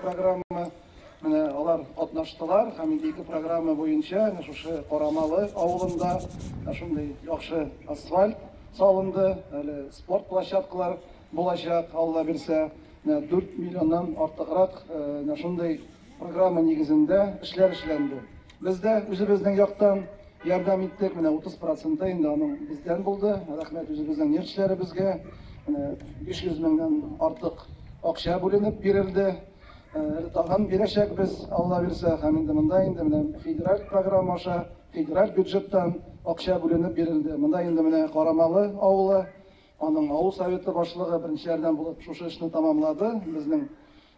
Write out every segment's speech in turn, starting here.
программа менә алар катнаштылар һәм инде ике программа буенча менә шушы Карамалы авылында шундый яхшы асфальт салынды, әле спорт площадкалар Булачак, Алла бирсә, менә дүрт миллионнан артыграк менә шундый программа нигезендә эшләр эшләнде. Без дә үзебезнең яктан ярдәм иттек, менә 30 проценты инде аның бездән булды. Рәхмәт үзебезнең нефтьчеләребезгә. Менә 500 меңнән артык акча бүленеп бирелде. Әле тагын бирәчәкбез, Алла бирсә. Һәм инде монда инде менә федераль программа аша, федераль бюджеттан акча бүленеп бирелде. Монда инде менә Карамалы авылы Аның авыл Советы башлыгы беренче ярдәм булып шушы эшне тәмамлады. Безнең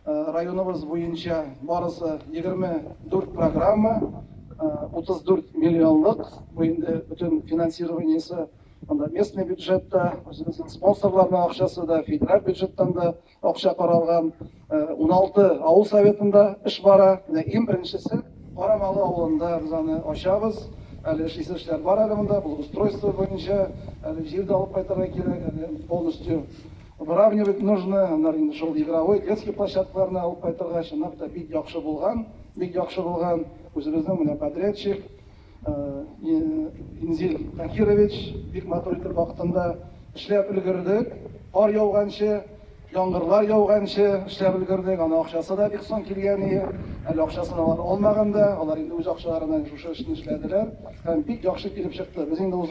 районыбыз буенча барысы 24 программа, 34 миллионлык. Бу инде бөтен финансированиесе анда местный бюджет та, үзебезнең спонсорларның акчасы да, федераль бюджеттан да. Акча каралган уналты авыл советында эш бара. Менә иң беренчесе Карамалы авылында без аны ачабыз. Әле эшлисе эшләр бар әле монда, благоустройство буенча. Әле җир дә алып кайтырга кирәк, әле полностью выравнивать нужно. Аннары инде шул игровой, детский площадкаларны алып кайтырга, чынлап та, бик яхшы булган, бик яхшы булган. Үзебезнең менә подрядчик. Инзил Таһирович, бик матур итеп вакытында эшләп өлгердек. Кар яуганчы, яңгырлар яуганчы эшләп өлгердек. Аны акчасы да бик соң килгән ие. Әле акчасын алар алмаган да. Алар инде үз акчаларына шушы эшне эшләделәр. Һәм бик яхшы килеп чыкты. Без инде узган